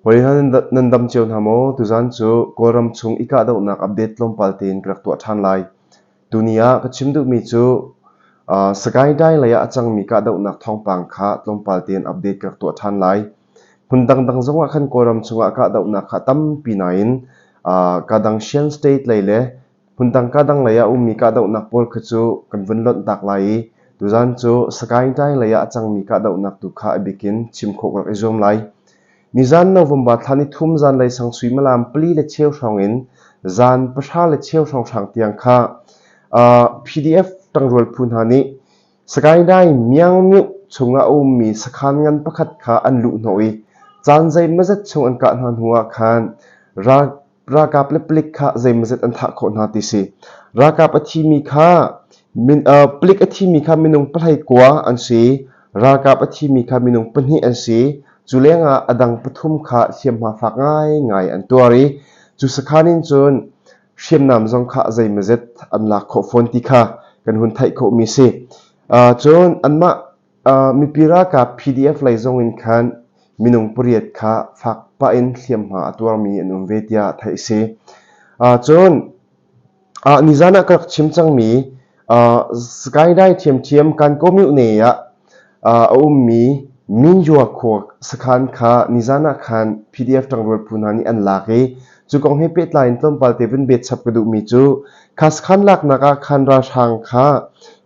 Hoi hal nan dam cio hna maw? Tuzan cu Kawlram chung i kahdohnak update tlawmpal tein ka rak tuah ṭhan lai. Tuni ah ka chim duhmi cu Sagaing-Dai lei ah a cangmi kahdohnak thawngpang kha tlawmpal tein update ka rak tuah ṭhan lai. Hmun dangdang zongah khan Kawlram chungah kahdohnak kha tampi nain ka dang Shan State lei le Phundang kahdanglei ah a ummi kahdohnak pawl kha cu kan vun lonhtak lai i tuzan cu Sagaing-Taing lei ah a cangmi kahdohnak tu kha a bik in chim khawh rak i zuam lai. Nizan November thla ni thum zanlei sangsui malam pali le cheu hrawng in zan pahra le cheu hrawnghrang tiang kha uh, PDF ṭangrual phu hna nih Sagaing-Taing Myangmyu chung ah a ummi sakhan ngan pakhat kha an luh hnawh i caan zei mazat chung an kah hna hnu ah khan ral ralkap le palik kha zeimazet an thah khawh hna ti si. Ralkap a thimi kha min, uh, palik a thimi kha minung pahlei kua an si. Ralkap a thimi kha minung pahnih an si. Cu lengah a dang pathum kha hliamhma fak ngaingai an tuar i cu sakhan in cun hriamnam zong kha zeimazet an lak khawh fawn ti kha kan hun theih khawhmi si. Uh, cun anmah Mipi ralkap PDF lei zong in khan minung pariat kha fak pah in hliamhma a tuarmi an um ve tiah theih a si. Cun nizan ah ka rak chim cangmi skyline thiamthiam Kankaw Mutne ah a ummi Min Yua Khua sakhan kha nizan ah khan PDF tangrual phu hna nih an lak i Cu kong he pehtlai in tlawmpal te vun bet chap ka duhmi cu khasakhan laknak ah khan ralhrang kha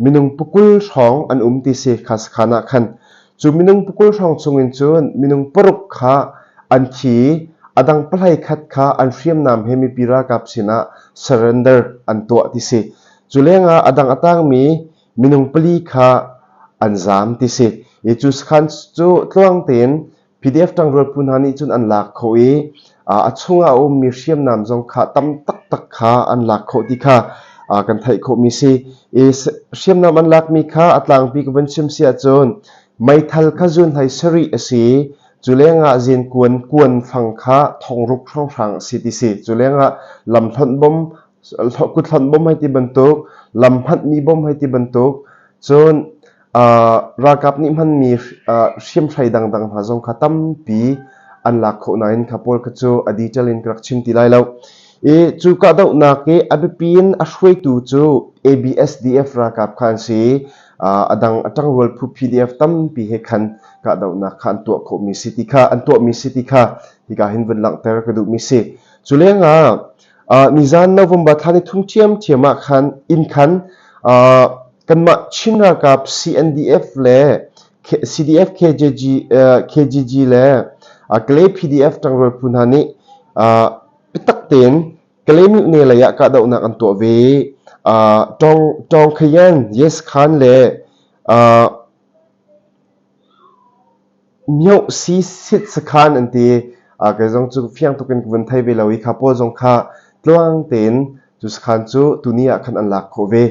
minung pukul hrawng an um ti si khasakhan ah khan cu minung pukul hrawng chungin cun minung paruk kha an thi i a dang pahlai khat kha an hriamnam he mipi ralkap sinah surrender an tuah ti si cu lengah a dang a tangmi minung pali kha an zam ti si i cu sakhan cu tluang tein PDF ṭangrual phu hna nih cun an lak khawh i a chungah a ummi hriamnam zong kha tam taktak kha an lak khawh ti kha kan theih khawhmi si i hriamnam an lakmi kha a tlangpi ka van chim si ahcun meithal kha zun hlei sarih a si cu lengah zin kuan kuan fang kha thongruk hrawnghrang a si ti si cu lengah lam hlonh bom kuthlon bom hai ti bantuk lam hmatmi bom hai ti bantuk cun Ralkap nih hmanmi hriamhrai dangdang hna zong kha tampi an lak khawh nain kha pawl kha cu a detail in ka rak chim ti lai lo. I cu kahdohnak i a biapi in a hruaitu cu ABSDF ralkap kha an si i a dang a ṭangrual phu PDF tampi he khan kahdohnak kha an tuah khawhmi si ti kha an tuahmi si ti kha hika hin vun langhter ka duhmi si. Cu lengah Nizan November thla nithum ṭhiamṭhiam ah khan in khan kanmah Chin ralkap CNDF le CDF-KGG le Kalay PDF ṭangrual phu hna nih biatak tein Kalay mutne lei ah kahdohnak an tuah ve. Tawng Khayan, Yes Khan le mioh si sit sakhan an ti kei zong cu fiang tuk in ka vun thei ve lo i kha pawl zong kha tlang tein cu sakhan cu tuni ah khan an lak khawh ve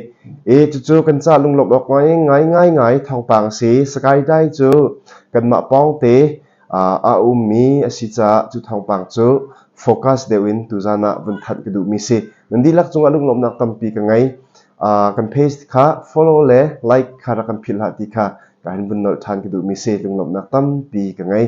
i cucu kan ca lunglawmh awk ngai ngai ngai ngai thawngpang a si skydi cu kanmah pawng te a ummi a si caah cu thawngpang cu focus deuh in tuzan ah vun thanh ka duhmi si nan dihlak cungah lunglawmhnak tampi ka ngei kan page kha follow le like kha rak kan philhhlah ti kha Kan vun nolh ṭhan ka duhmi seh lunglawmhnak tampi ka ngei.